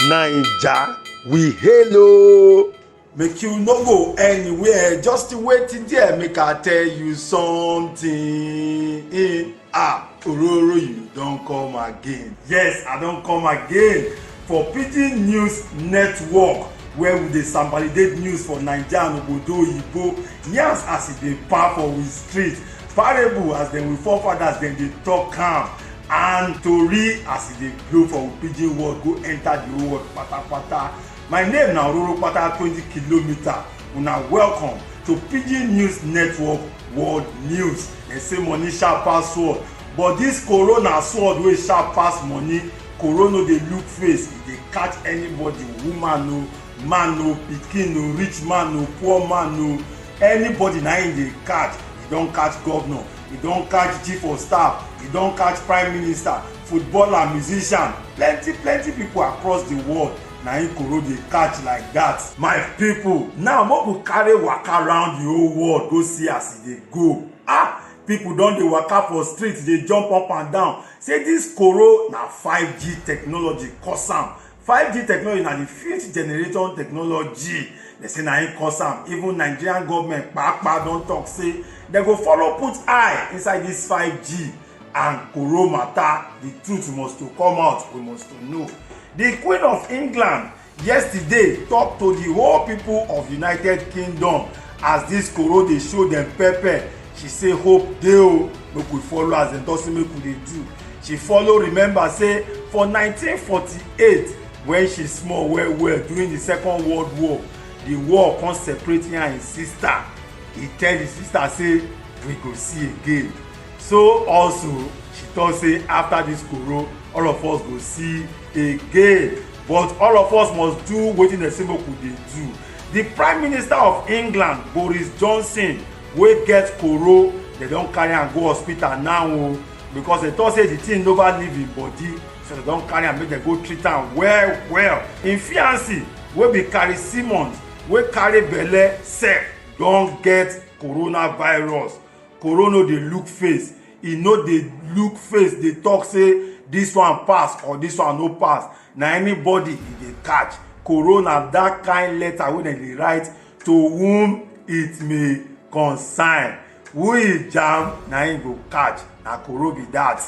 naija we hail o. make you no go anywhere just wait there make i tell you something eh, ah ororo you don come again yes i don come again for pidgin news network where we dey sambalidate news for naija and obodo oyibo yarns as e dey pa for we street parable as dem we forefathers dem dey talk am and tori as e dey blow for pidgin world go enter the whole world patapata my name na ororo pata twenty kilometer una welcome to pidgin news network world news dem say money sharp pass sword but this corona sword wey sharp pass money corona no dey look face e dey catch anybody woman o man o pikin o rich man o poor man o anybody na im dey catch e don catch governor e don catch chief of staff e don catch prime minister footballer musician plenty plenty people across the world na im koro dey catch like that. my people now make we carry waka round the whole world go see as e dey go ah people don dey waka for street dey jump up and down say this koro na 5g technology cause am 5G technology na the fifth generation technology dem say na im cause am even Nigerian government kpakpa don talk say dem go follow put eye inside this 5G and koro matter the truth must to come out we must to know the Queen of England yesterday talk to the whole people of United Kingdom as this koro dey show dem pepper she say hope dey o make we follow as dem don say make we dey do she follow remember say for 1948 when she small well well during the second world war the war come separate her and him sister he tell him sister say we go see again so also she talk say after this koro all of us go see again but all of us must do wetin dem say make we dey do the prime minister of england boris johnson wey get koro dem don carry am go hospital now o oh, because dem talk say the thing nova leave im body so dem don carry am make dem go treat am well well im fiancee wey be carrie simmons wey carry belle sef don get coronavirus corona no dey look face e no dey look face dey talk say this one pass or this one no pass na anybody e dey catch corona that kind letter wey dem dey write to whom it may concern who e jam na im go catch na koro be that.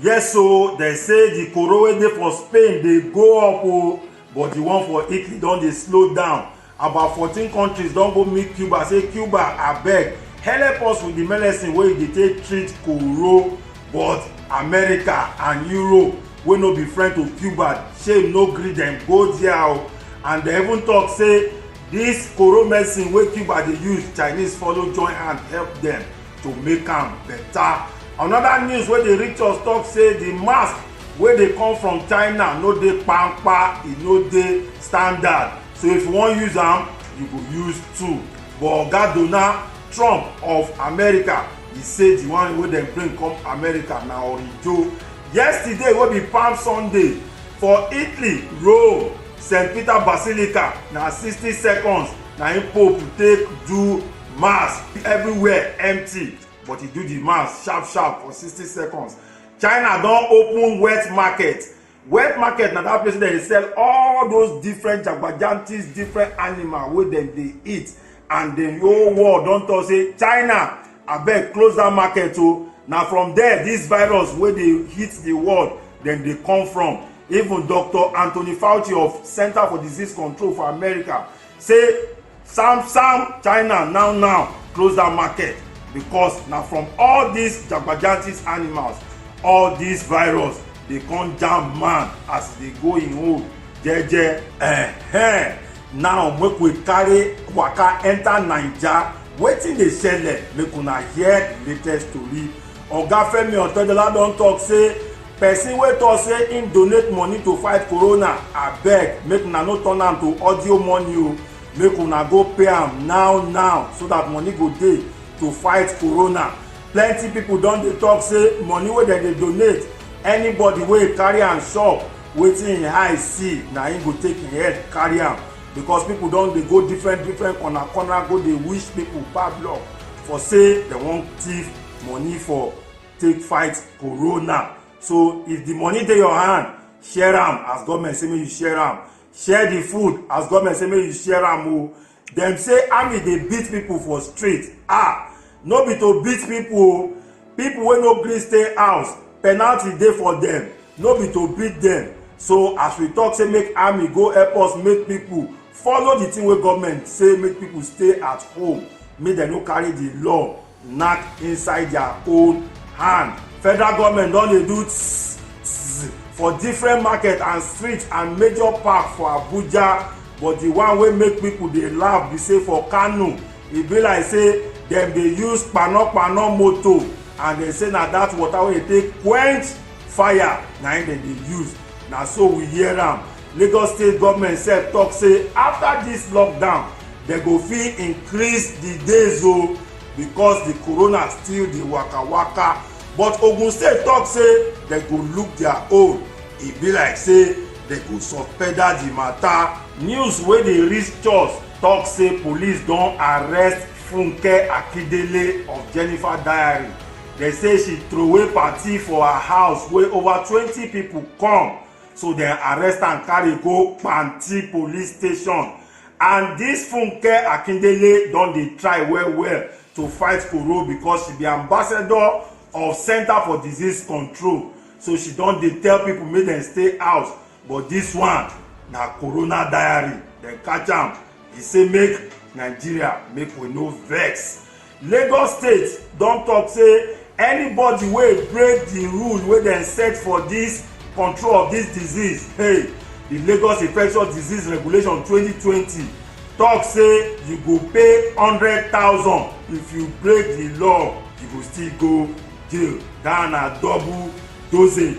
yes o dem say the koro wey dey for spain dey go up o but the one for italy don dey slow down about fourteen countries don go meet cuba say cuba abeg help us with the medicine wey dey take treat koro but america and europe wey no be friend to cuba shame no gree dem go there o and dem even talk say This koro medicine wey Cuba dey use, Chinese follow join hand help dem to make am better. Another news wey dey reach us talk say the mask wey dey come from China no dey kpamkpa, e no dey standard. So if you wan use am, you go use two. But Oga Donald Trump of America, e say the one wey dem bring come America na orijo. Yesterday wey be Palm Sunday for Italy, Rome, st peter basilica na sixty seconds na im pope take do mass everywhere empty but e do di mass sharp sharp for sixty seconds china don open wet market wet market na dat place wey dem dey sell all those different jagbajantis different animal wey dem dey eat and di whole world don talk say china abeg close dat market o na from there dis virus wey dey hit di world dem dey come from even dr anthony fauci of center for disease control for america say sam sam china now now close dat market because na from all dis jagbajantis animals all dis virus dey come jam man as e dey go im own jeje. Eh, eh. now make we carry waka enter naija wetin dey shele make una hear the latest tori oga femi otedola don talk say person wey talk say im donate money to fight corona abeg make una no turn am to audio money o make una go pay am now now so that money go dey to fight corona plenty people don dey talk say money wey dem dey donate anybody wey carry am shop wetin im eye see na im go take im head carry am because people don dey go different different corner corner go dey wish people bad luck for say dem wan thief money for take fight corona so if the money dey your hand share am as government say make you share am share the food as government say make you share am o dem say army dey beat people for street ah no be to beat people o people wey no gree stay house penalty dey for dem no be to beat dem so as we talk say make army go help us make people follow the thing wey government say make people stay at home make dem no carry the law knack inside their own hand federal government don dey do tss tss for different market and street and major park for abuja but the one wey make people dey laugh be say for kano e be like say dem dey use kpanokpano motor and dem say na that water wey dey take quench fire na im dem dey use na so we hear am Lagos state government sef talk say after this lockdown dem go fit increase the days o oh, because the corona still dey waka waka but ogun state talk say dem go look their own e be like say dem go subpedal the matter. news wey dey reach us talk say police don arrest funke akindele of jennifer diary dem say she throway party for her house wey over twenty people come so dem arrest am carry go panti police station and dis funke akindele don dey try well well to fight koro because she be ambassador of center for disease control so she don dey tell people make dem stay house but dis one na corona diary dem catch am e say make nigeria make we no vex Lagos State don talk say anybody wey break the rule wey dem set for this control of this disease hey the Lagos Infectious Disease Regulation 2020 talk say you go pay hundred thousand if you break the law you go still go jail that na double dosage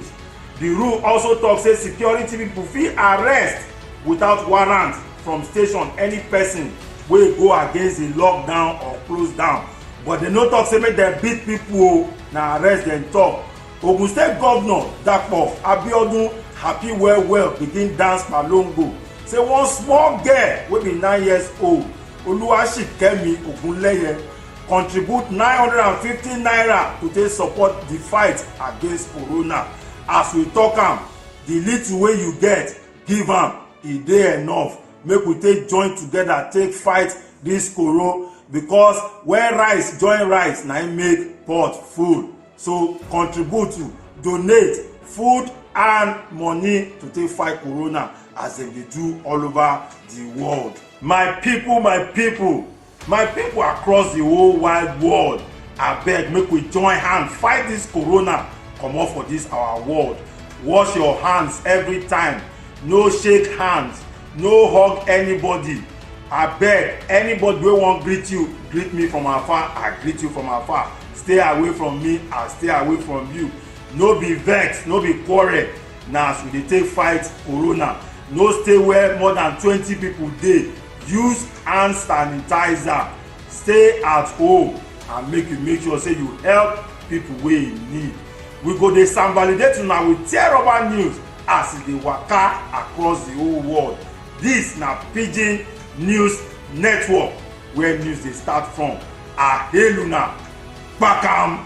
the rule also talk say security people fit arrest without warrant from station any person wey go against the lockdown or close down but dem no talk say make dem beat people o na arrest dem talk ogun state governor dapo abiodun happy well well begin dance palongo say one small girl wey be nine years old oluwaṣikemi ogunleye contribute nine hundred and fifty naira to take support the fight against corona as we talk am the little wey you get give am e dey enough make we take join together take fight this koro because when rice join rice na im make pot full so contribute to donate food and money to take fight corona as dem dey do all over the world my people my people My people across the whole wide world, abeg make we join hand fight this corona comot for this our world. Wash your hands every time, no shake hands, no hug anybody. Abeg, anybody wey wan greet you, greet me from afar, I greet you from afar. Stay away from me, I stay away from you. No be vex, no be quarrel, na as we dey take fight corona. No stay where more than twenty people dey use hand sanitizer stay at home and make you make sure say you help people wey in need we go dey sanvalidate una with tear rubber news as e dey waka across the whole world This na pidgin news network where news dey start from aheluna kpakam.